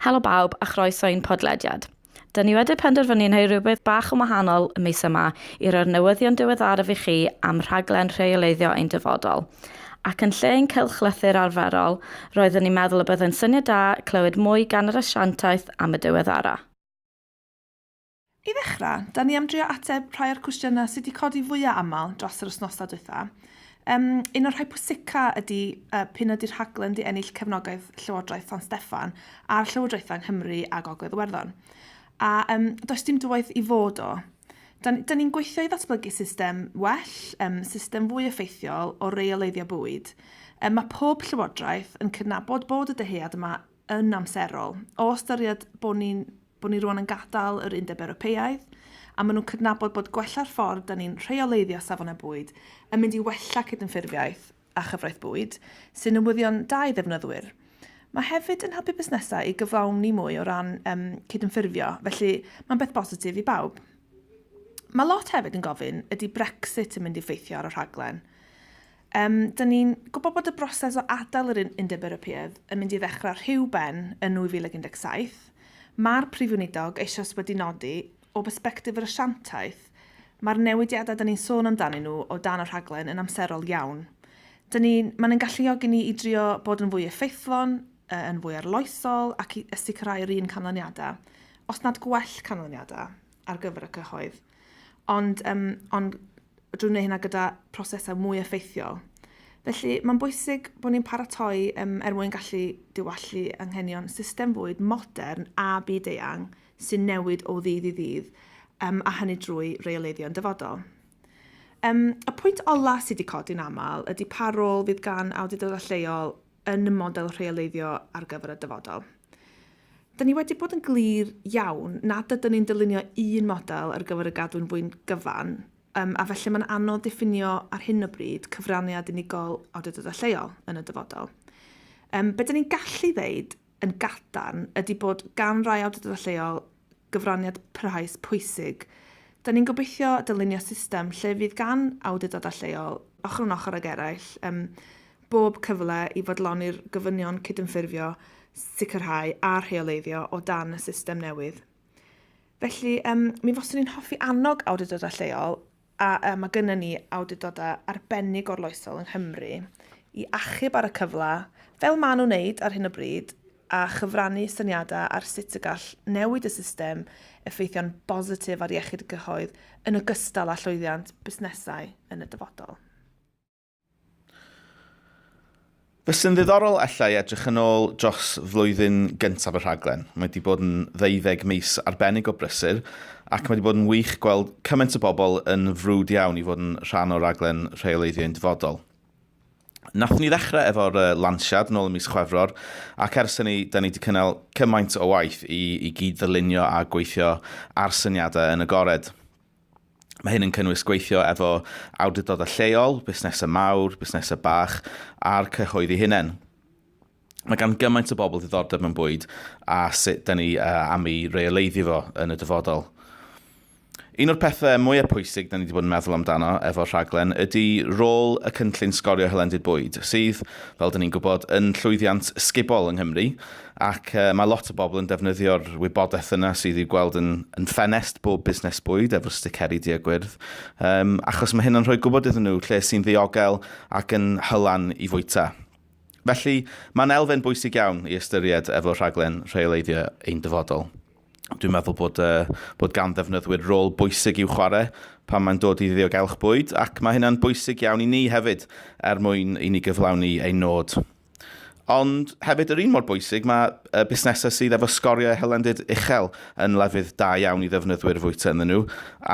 Helo bawb a chroeso i'n podlediad. Dyn ni wedi penderfynu yn ei rhywbeth bach yn wahanol y mis yma i roi'r newyddion diweddaraf i chi am rhaglen rheoleiddio ein dyfodol. Ac yn lle ein cylchlythyr arferol, roeddwn i'n meddwl y byddai'n syniad da clywed mwy gan yr asiantaeth am y diweddara. I ddechrau, da ni am drio ateb rhai o'r cwestiynau sydd wedi codi fwyaf aml dros yr wythnosau dwytha. Um, un o'r rhai pwysica ydy uh, pyn ydy'r rhaglen di ennill cefnogaeth Llywodraeth San Steffan a'r Llywodraethau Nghymru a Gogledd Iwerddon. A um, does dim dywaith i fod o. Da, da ni'n gweithio i ddatblygu system well, um, system fwy effeithiol o reoleiddio bwyd. Um, mae pob llywodraeth yn cydnabod bod y dyhead yma yn amserol. O ystyried bod ni, bod ni rwan yn gadael yr Undeb Ewropeaidd, a maen nhw'n cydnabod bod gwella'r ffordd da ni'n rheoleiddio safonau bwyd yn mynd i wella cydymffurfiaeth a chyfraith bwyd, sy'n newyddion da i ddefnyddwyr. Mae hefyd yn helpu busnesau i gyflawni mwy o ran um, cydymffurfio, felly mae'n beth bositif i bawb. Mae lot hefyd yn gofyn ydy Brexit yn mynd i ffeithio ar y rhaglen. Yym, 'da ni'n gwybod bod y broses o adael yr Undeb Ewropeaidd yn mynd i ddechrau rhyw ben yn 2017. Mae'r Prif Weinidog eisoes wedi nodi, o bersbectif yr asiantaeth, mae'r newidiadau 'da ni'n sôn amdanyn nhw o dan y rhaglen yn amserol iawn. 'Da ni, mae'n ein galluogi ni i drio bod yn fwy effeithlon, yn fwy arloesol ac i sicrhau yr un canlyniadau, os nad gwell canlyniadau, ar gyfer y cyhoedd. Ond, um, ond drwy wneud hynna gyda prosesau mwy effeithiol. Felly, mae'n bwysig bod ni'n paratoi um, er mwyn gallu diwallu anghenion system fwyd modern a byd eang sy'n newid o ddydd i ddydd, um, a hynny drwy reoleiddio'n dyfodol. Um, y pwynt ola sydd wedi codi'n aml ydy pa rôl fydd gan awdurdodau lleol yn y model rheoleiddio ar gyfer y dyfodol. Da ni wedi bod yn glir iawn nad ydyn ni'n dylunio un model ar gyfer y gadwyn fwy'n gyfan, um, a felly mae'n anodd diffinio ar hyn o bryd cyfraniad unigol awdurdodau lleol yn y dyfodol. Um, be dyn ni'n gallu ddeud yn gadarn ydy bod gan rai awdurdodau lleol gyfraniad parhaus pwysig. Da ni'n gobeithio dylunio system lle fydd gan awdurdodau lleol, ochr yn ochr ag eraill, um, bob cyfle i fodloni'r gofynion cydymffurfio, sicrhau a rheoleiddio o dan y system newydd. Felly, um, mi foswn i'n hoffi annog awdurdodau lleol a mae gennym ni awdurdodau arbennig gorloesol yng Nghymru i achub ar y cyfle, fel maen nhw'n wneud ar hyn o bryd, a chyfrannu syniadau ar sut y gall newid y system effeithio'n bositif ar iechyd y cyhoedd yn ogystal â llwyddiant busnesau yn y dyfodol. Fe sy'n ddiddorol allai edrych yn ôl dros flwyddyn gyntaf y rhaglen. Mae wedi bod yn ddeuddeg mis arbennig o brysur ac mae wedi bod yn wych gweld cymaint o bobl yn frwd iawn i fod yn rhan o raglen rheoleiddio i'n dyfodol. Nath ni ddechrau efo'r uh, lansiad nôl ym mis Chwefror ac ers hynny da ni wedi cynnal cymaint o waith i, i gyd ddylunio a gweithio ar syniadau yn agored. Mae hyn yn cynnwys gweithio efo awdurdodau lleol, busnesau mawr, busnesau bach a'r cyhoedd ei hunain. Mae gan gymaint o bobl ddiddordeb mewn bwyd a sut da ni uh, am ei reoleiddio fo yn y dyfodol. Un o'r pethau mwyaf pwysig da ni wedi bod yn meddwl amdano efo'r rhaglen ydy rôl y cynllun sgorio hylendid bwyd, sydd, fel da ni'n gwybod, yn llwyddiant sgubol yng Nghymru, Ac mae lot o bobl yn defnyddio'r wybodaeth yna sydd i'w gweld yn, yn ffenest bob busnes bwyd efo'r sticeri du a gwyrdd, um, achos mae hyn yn rhoi gwybod iddyn nhw lle sy'n ddiogel ac yn hylan i fwyta. Felly, mae'n elfen bwysig iawn i ystyried efo rhaglen rheoleiddio ein dyfodol. Dwi'n meddwl bod, uh, bod gan ddefnyddwyr rôl bwysig i'w chwarae pan mae'n dod i ddiogelwch bwyd ac mae hynna'n bwysig iawn i ni hefyd er mwyn i ni gyflawni ein nod Ond hefyd yr un mor bwysig, mae y busnesau sydd efo sgoriau hylendid uchel yn lefydd da iawn i ddefnyddwyr fwyta ynddyn nhw,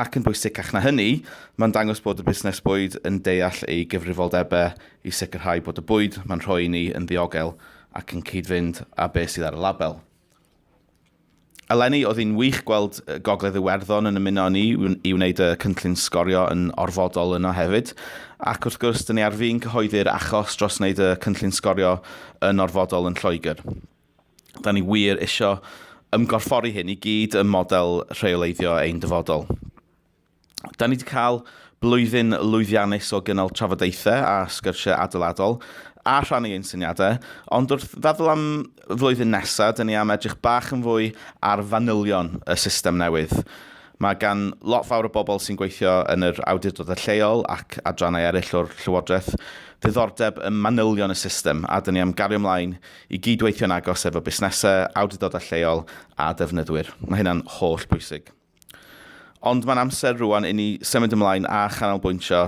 ac yn bwysicach na hynny, mae'n dangos bod y busnes bwyd yn deall ei gyfrifoldebau i sicrhau bod y bwyd mae'n rhoi i ni yn ddiogel ac yn cyd-fynd â beth sydd ar y label. Eleni, oedd hi'n wych gweld Gogledd Iwerddon yn ymuno â ni i wneud y cynllun sgorio yn orfodol yno hefyd. Ac wrth gwrs, dyn ni ar fin cyhoeddi'r achos dros wneud y cynllun sgorio yn orfodol yn Lloegr. Da ni wir isio ymgorffori hyn i gyd ym model rheoleiddio ein dyfodol. Da ni wedi cael blwyddyn lwyddiannus o gynnal trafodaethau a sgyrsiau adeiladol a rhannu ein syniadau, ond wrth feddwl am flwyddyn nesaf, dyn ni am edrych bach yn fwy ar fanylion y system newydd. Mae gan lot fawr o bobl sy'n gweithio yn yr awdurdodau lleol ac adrannau eraill o'r Llywodraeth ddiddordeb ym manylion y system a dyn ni am gario ymlaen i gyd-weithio'n agos efo busnesau, awdurdodau lleol a defnyddwyr. Mae hynna'n holl bwysig. Ond mae'n amser rŵan inni symud ymlaen a chanolbwyntio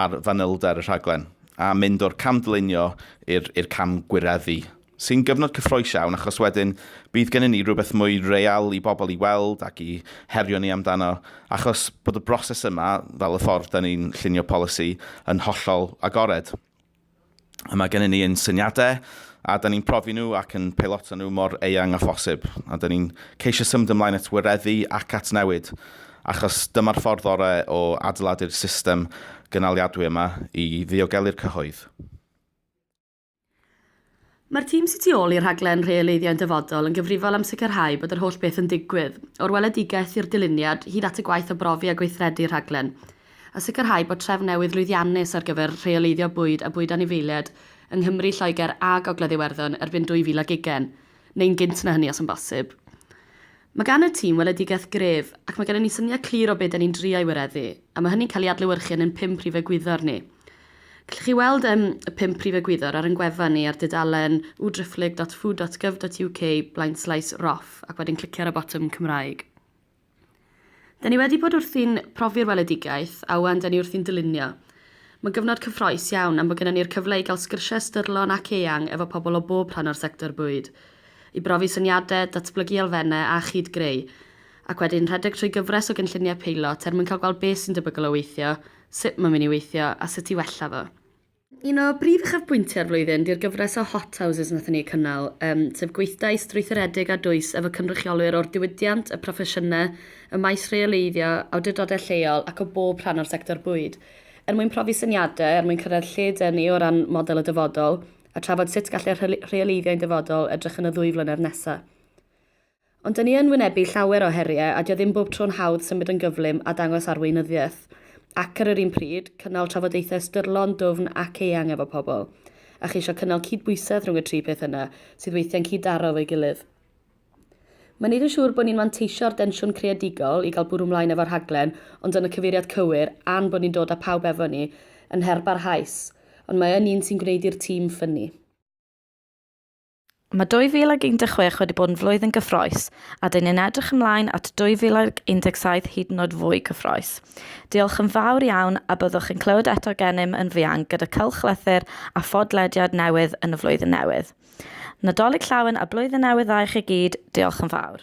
ar fanylder y rhaglen, a mynd o'r cam dylunio i'r i'r cam gwireddu, sy'n gyfnod cyffrous iawn achos wedyn bydd gennym ni rhywbeth mwy real i bobl i weld ac i herio ni amdano, achos bod y broses yma, fel y ffordd 'da ni'n llunio polisi, yn hollol agored. A mae gennym ni ein syniadau, a da ni'n profi nhw ac yn peiloto nhw mor eang â phosib, a da ni'n ceisio symud ymlaen at wireddu ac at newid, achos dyma'r ffordd orau o adeiladu'r system gynaliadwy yma i ddiogelu'r cyhoedd. Mae'r tîm sy'n tu ôl i'r rhaglen Rheoleiddio yn Dyfodol yn gyfrifol am sicrhau bod yr holl beth yn digwydd, o'r weledigaeth i'r dyluniad, hyd at y gwaith o brofi a gweithredu'r rhaglen, a sicrhau bod trefn newydd lwyddiannus ar gyfer rheoleiddio bwyd a bwyd anifeiliaid yng Nghymru, Lloegr a Gogledd Iwerddon erbyn 2020, neu'n gynt na hynny os yn bosib. Mae gan y tîm weledigaeth gref, ac mae gennym ni syniad clir o be' 'da ni'n drio ei wireddu, a mae hynny'n cael ei adlewyrchu yn ein pum prif egwyddor ni. Gallwch chi weld yym y pum prif egwyddor ar ein gwefan ni ar dudalen www.dyfrdlyg.gov.uk blaenslaes roff ac wedyn clicio ar y botwm Cymraeg. Da ni wedi bod wrthi'n profi'r weledigaeth, a ŵan da ni wrthi'n dylunio. Mae'n gyfnod cyffrous iawn am bod gennym ni'r cyfle i gael sgyrsiau ystyrlon ac eang efo pobl o bob rhan o'r sector bwyd. i brofi syniadau, datblygu elfennau a chyd-greu, ac wedyn rhedeg trwy gyfres o gynlluniau peilot er mwyn cael gweld beth sy'n debygol o weithio, sut mae'n mynd i weithio a sut i wella fo. Un o brif uchafbwyntiau'r flwyddyn di'r gyfres o Hot Houses wnaethon ni eu cynnal, sef gweithdai strwythuredig a dwys efo cynrychiolwyr o'r diwydiant, y proffesiynau, y maes rheoleiddio, awdurdodau lleol ac o bob rhan o'r sector bwyd, er mwyn profi syniadau er mwyn cyrraedd lle 'dyn ni o ran model y dyfodol, a trafod sut gall e rheoleiddio i'n dyfodol edrych yn y ddwy flynedd nesa. Ond dyn ni yn wynebu llawer o heriau a dio ddim bob tro'n hawdd symud yn gyflym a dangos arweinyddiaeth. Ac ar yr un pryd, cynnal trafodaethau ystyrlon, dwfn ac eang efo pobl. A cheisio cynnal cydbwysedd rhwng y tri peth yna, sydd weithiau'n cyd-daro efo'i gilydd. Mae'n neud yn siŵr bod ni'n manteisio'r densiwn creadigol i gael bwrw mlaen efo'r rhaglen, ond yn y cyfeiriad cywir, a'n bod ni'n dod â pawb efo ni, yn her barhaus. Ond mae yn un sy'n gwneud i'r tîm ffynnu. Mae 2016 wedi bod yn flwyddyn gyffrous, a dyn ni'n edrych ymlaen at 2017 hyd yn oed fwy cyffrous. Diolch yn fawr iawn, a byddwch yn clywed eto gennym yn fuan gyda cylchlythyr a phodlediad newydd yn y flwyddyn newydd. Nadolig Llawen a Blwyddyn Newydd Dda i chi gyd, diolch yn fawr.